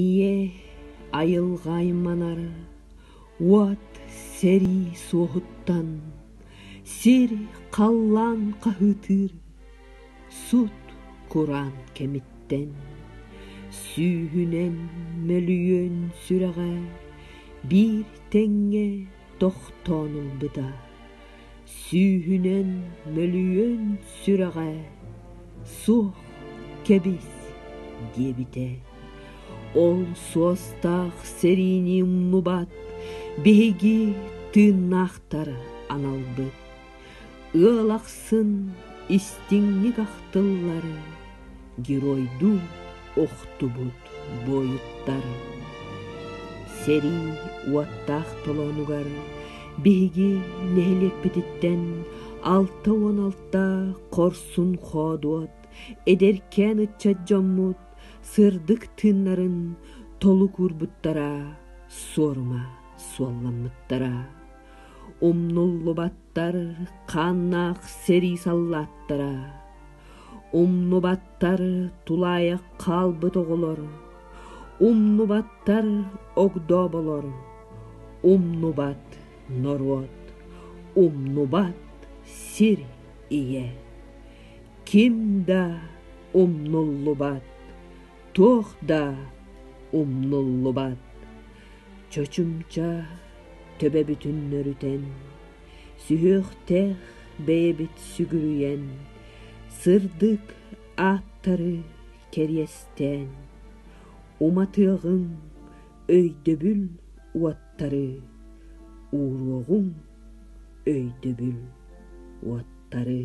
Ийэ айылҕа айманар уот сэрии суоһуттан сир халлаан хаһыытыыр сут-кураан кэмиттэн сүүһүнэн мөлүйүөн сүрэҕэ биир тэҥҥэ тохтоон ылбыта Сүүһүнэн мөлүйүөн сүрэҕэ суох кэбис диэбитэ. Ол суостаах сэриини умнубат биһиги тыыннаахтары аналбыт. Ыал ахсын истиҥник ахтыллары геройдуу охтубут буойуттар сэрии уоттаах толоонугар биһиги нэһилиэкпититтэн алта уон алта хорсун хоодуот эдэркээн ыччат дьоммут сырдык тыыннарын толук уурбуттара суорума суолламмыттара умнуллубаттар хааннаах сэрии саллааттара Умнубаттар тулаайах хаалбыт оҕолор, умнубаттар огдооболор, умнубат норуот, умнубат сир ийэ. Ким да умнуллубат, туох да умнуллубат. Чочумча төбө бүтүннөрүтэн Сүһүөхтээх бэйэбит сүгүрүйэн, сырдык ааттары кэриэстээн, уматыаҕыҥ өйдөбүл уоттары, ууруоҕуҥ өйдөбүл уоттары.